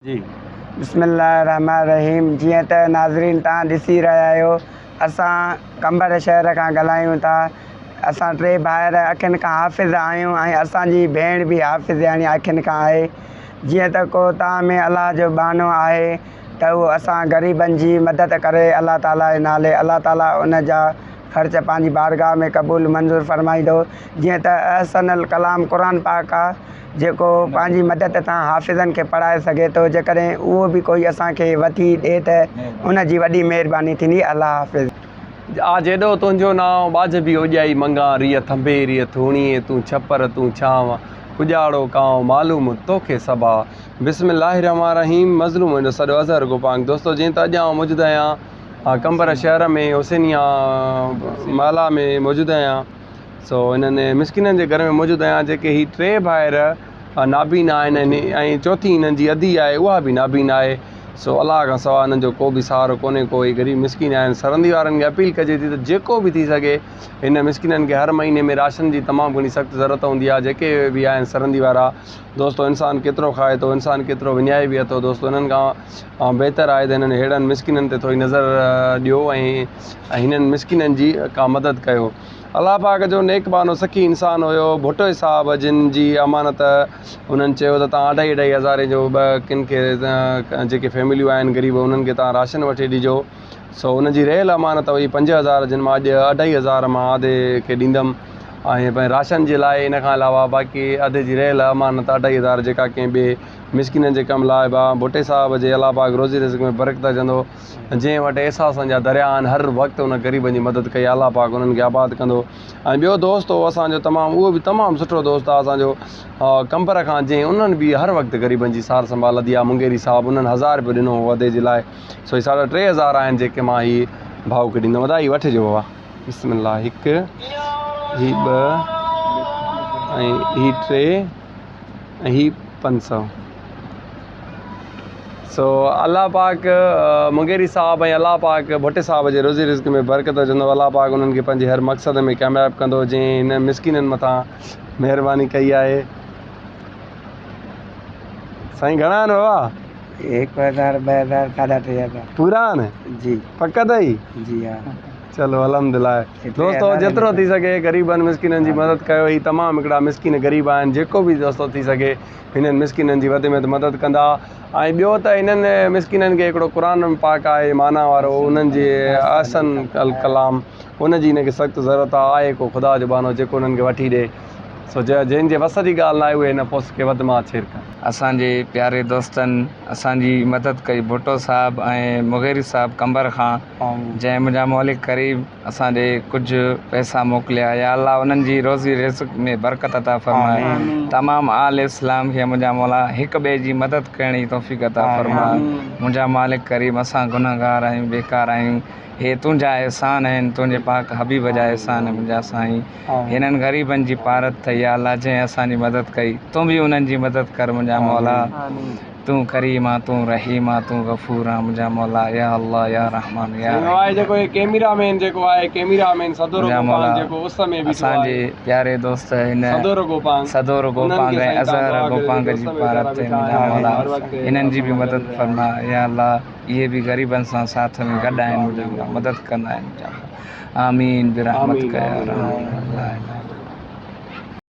جي. بسم الله الرحمٰن الرحيم جيئن ته ناظرين توهان ڏسي رهيا آهيو اسان قمبر شهر کان ڳالهايون ٿا اسان ٽي ڀائر اکين کان حافظ آهيون ۽ اسان جي ڀيڻ به حافظياڻي اکين کان آهي جيئن ته ڪوهتان ۾ الله جو ٻانهو آهي ته اهو اسان غريبن جي مدد ڪري الله تعالي جي نالي الله تعالي ان جا خرچ پنهنجي بارگاهه ۾ قبول منظور فرمائيندو جيئن ته احسن الڪلام قرآن پاڪ آهي جيڪو پنهنجي مدد سان حافظن کي پڙهائي سگهي ٿو جيڪڏهن اهو به ڪوئي اسان کي وٿي ڏئي ته ان جي وڏي مهرباني ٿيندي الله حافظ. آ جيڏو تنهنجو نانء ٻاجهه به اوڄائي منگان ريء ٿنڀي ريء ٿوڻيء تون ڇپر تون ڇانو ڪڄاڙو ڪانء معلوم توکي سڀا. بسم الله الرحمٰن الرحيم مظلوم منهنجو سڏ اظهر گو پانگ دوستو جيئن ته اڄ آئون موجود آهيان قمبر شهر ۾ حسينيه محلا ۾ موجود آهيان. سو انهن مسڪينن جي گهر ۾ موجود آهيان جيڪي هي ٽي ڀائر نابينا آهن ۽ چوٿي انهن جي ادي آهي اها به نابينا آهي سو الله کان سواء انهن جو ڪو به سهارو ڪونهي ڪو هي غريب مسڪين آهن سرندي وارن کي اپيل ڪجي ٿي ته جيڪو به ٿي سگهي هن مسڪينن کي هر مهيني ۾ راشن جي تمام گهڻي سخت ضرورت هوندي آهي جيڪي به آهن سرندي وارا دوستو انسان ڪيترو کائي ٿو انسان ڪيترو وڃائي به اٿو دوستو انهن کان بهتر آهي ته انهن هيڙن مسڪينن تي ٿوري نظر ڏيو ۽ هنن مسڪينن جي ڪا مدد ڪيو الله پاڪ جو نيڪ بانو سخي انسان هيو ڀٽو صاحب جن جي امانت انهن چيو ته تان اڍائي اڍائي هزارين جو ٻه ڪن کي جيڪي فيمليون آهن غريب انهن کي تان راشن وٺي ڏجو سو انهن جي رهيل امانت هئي پنج هزار جن مان اڄ اڍائي هزار مان آڌي کي ڏيندم ۽ پنهنجي راشن جي لاء ان کان علاوه باقي عھدي جي رھيل امانت اڍائي ھزار جيڪا ڪنهن ٻئي مسڪينن جي ڪم لاء به آن ڀٽي صاحب جي الله پاڪ روزي رزق ۾ برڪت اچندو جنهن وٽ احساسن جا دريا آھن ھر وقت ان غريبن جي مدد ڪئي الله پاڪ انهن کي آباد ڪندو ۽ ٻيو دوست هو اسان جو تمام اهو به تمام سٺو دوست آ اسان جو قمبر خان جنهن انهن به هر وقت غريبن جي سار سنڀال لڌي آ مونگيري صاحب انهن هزار رپيو ڏنو هو عھدي جي لاء سو هي ساڍا ٽي هزار آهن جيڪي مان هي ڀائو کي ڏيندم ادا هي وٺجو بابا بسم الله هڪ هي ٻه ۽ هي ٽي ۽ هي پنج سؤ سو الله پاڪ مغيري صاحب ۽ الله پاڪ ڀٽي صاحب جي روزي رزق ۾ برڪت وجهندو الله پاڪ انهن کي پنهنجي هر مقصد ۾ ڪامياب ڪندو جنهن هن مسڪينن مٿان مهرباني ڪئي آهي سائين گهڻا آهن بابا هڪ هزار ٻه هزار ساڍا ٽي هزار پورا آهن جي پڪ اٿئي جي ها چلو الحمد لله دوستو جيترو ٿي سگهي غريبن مسڪينن جي مدد ڪيو هي تمام هڪڙا مسڪين غريب آهن جيڪو به دوستو ٿي سگهي هنن مسڪينن جي وڌ ۾ وڌ مدد ڪندا ۽ ٻيو ته هنن مسڪينن کي هڪڙو قرآن پاڪ آهي معنيٰ وارو انهن جي احسن الڪلام ان جي هن کي سخت ضرورت آهي آهي ڪو خدا جو ٻانهو جيڪو انهن کي وٺي ڏي سو جا جنهن جي وس جي ڳالهه ناهي اهي نه پوس کي وڌ مان ڇير ڪن. اسان جي پياري دوستن اسان جي مدد ڪئي ڀٽو صاحب ۽ مغيري صاحب قمبر کان جنهن منهنجا مولي قريب اسان ڏي ڪجهه پئسا موڪليا يا الله انهن جي روزي رزق ۾ برڪت عطا فرماء تمام آل اسلام کي منهنجا مولا هڪ ٻئي جي مدد ڪرڻ جي توفيق عطا فرماء منهنجا مالڪ ڪريم اسان گنهگار آهيون بيڪار آهيون هي تنهنجا احسان آهن تنهنجي پاڪ حبيب جا احسان منهنجا سائين هنن غريبن جي پارت ٿئي يا الله جنهن اسان جي مدد ڪئي تون به انهن جي مدد ڪر منهنجا مولا تون ڪريم آن تون رحيم آن تون غفور آن منهنجا مولا يا الله يا رحمان يا رحيم منهنجا مولا اسان جي پياري دوست هن سدور گوپانگ ۽ اظهر گوپانگ جي پارت ٿئي منهنجا مولا انهن جي به مدد فرما يا الله اهي به غريبن سان ساٿ ۾ گڏ آهن منهنجا مولا مدد ڪندا آهن منهنجا مولا. آمين برحمتڪ يا ارحم الراحمين.